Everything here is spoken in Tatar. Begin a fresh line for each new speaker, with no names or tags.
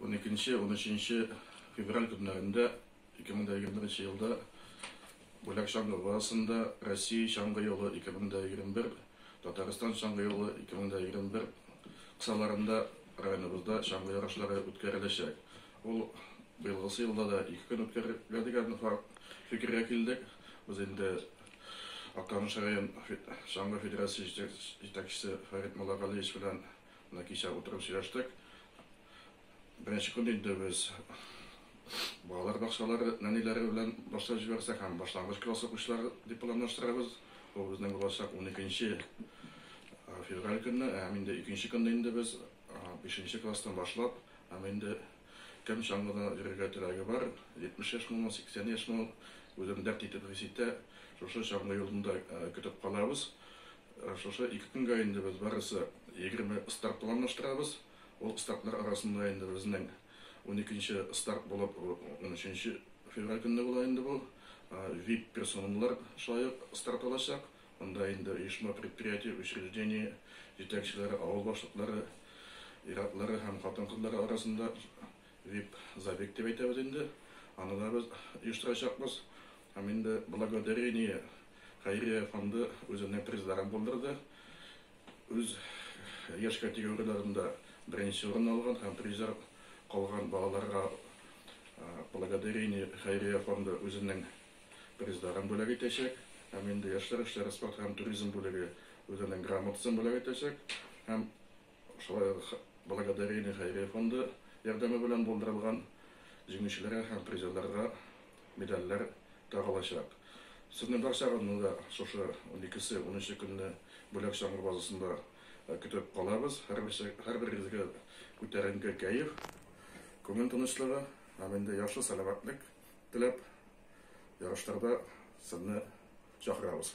12-13 февраль көннәрендә 2021 елда Бүләк чаңгы базасында Россия чаңгы юлы 2021, Татарстан чаңгы юлы 2021 кысаларында районыбызда чаңгы ярышлары үткәреләчәк. Ул быелгысы елда да ике көн үткәрергә дигән фикергә килдек. Без инде Актаныш район чаңгы федерациясе җитәкчесе Фәрит Муллагалиевич белән Менә кичә утырып сөйләштек. Беренче көн инде без балалар бакчалары нәниләре белән башлап җибәрсәк һәм башлангыч класс укучылары дип планлаштырабыз. Ул безнең булачак 12 февраль көнне, һәм инде икенче көнне инде без 5 класстан башлап, һәм инде кем чаңгыда йөрергә теләге бар, 70 яшь мул, 80 яшь мул, үзен дәрт итеп хис итә, шушы чаңгы юлында көтеп калабыз. Шушы ике көнгә инде без барысы егерме старт планлаштырабыз. Ул стартлар арасында инде безнең уникенче старт булып, унөченче февраль көнне була инде бу. Вип персоналар шулай ук старт алачак. Монда инде оешма, предприятие, учреждение җитәкчеләре, авыл башлыклары, ир-атлары һәм хатын-кызлары арасында Вип забег дип әйтәбез инде, аны да без оештырачакбыз. Һәм инде Благодарение хәйрия фонды үзенә призларын булдырды. Үз яшь категорияләрендә беренче урын алган һәм призер калган балаларга Благодарение хәйрия фонды үзенең призларын бүләк итәчәк. Һәм инде яшьләр эшләре, спорт һәм туризм бүлеге үзенең грамотасын бүләк итәчәк. Һәм Шулай ук Благодарение хәйрия фонды ярдәме белән булдырылган җиңүчеләргә һәм призерларга медальләр тагылачак. Сезне барчагызны да шушы уникесе, унынчы көнне Бүләк чаңгы базасында көтеп калабыз. Һәрберегезгә күтәренке кәеф, күңел тынычлыгы һәм инде яхшы сәламәтлек теләп, ярышларда сезне чакырабыз.